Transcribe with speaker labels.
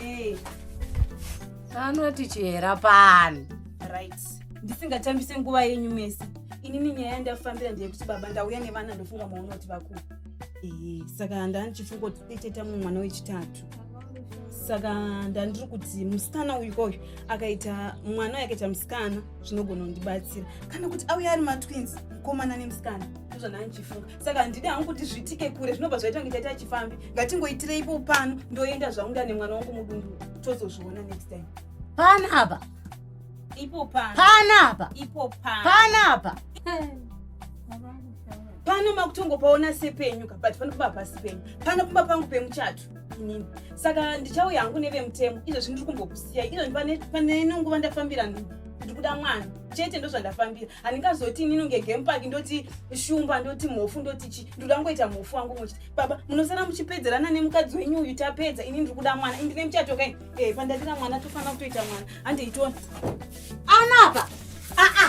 Speaker 1: Hey. Eh. Anoti chihera pani. Right. Ndisingachambise nguva yenyu mese. Inini nyaya yandafambira ndeyekuti baba ndauya nevana ndofunga maona kuti vakuru. Eh, saka ndandichifunga kuti teteta mumwe mwana wechitatu. Saka ndandiri kuti musikana uyu koyu akaita mwana yakaita musikana zvinogona kundibatsira. Kana kuti auya ari matwins mukomana nemusikana. Ndozvandandichifunga. saka handidi hangu kuti zviitike kure zvinobva zvaita kunge taita chifambi ngatingoitireipo pano ndoenda zvangu ndane mwana wangu mudundu tozozviona next time pana apa ipo pana pana apa ipo pana pana apa pano makutongopaona sepenyu ka but panopamba pasi penyu panopamba pangu pemuchato inini saka ndichauya hangu nevemutemo izvozvi ndiri kumbokusiyai izvozvi pane nenguva ndafambira nhu ndiri kuda mwana chete ndozvandafambira handingazoti inini kunge game park ndoti shumba ndoti mhofu ndoti chi ndoda ngoita mhofu wangu muchiti baba munosara muchipedzerana nemukadzi wenyu uyu tapedza ini ndiri kuda mwana indine muchato kai e pandadira mwana tofanira kutoita mwana handiitona anapa aa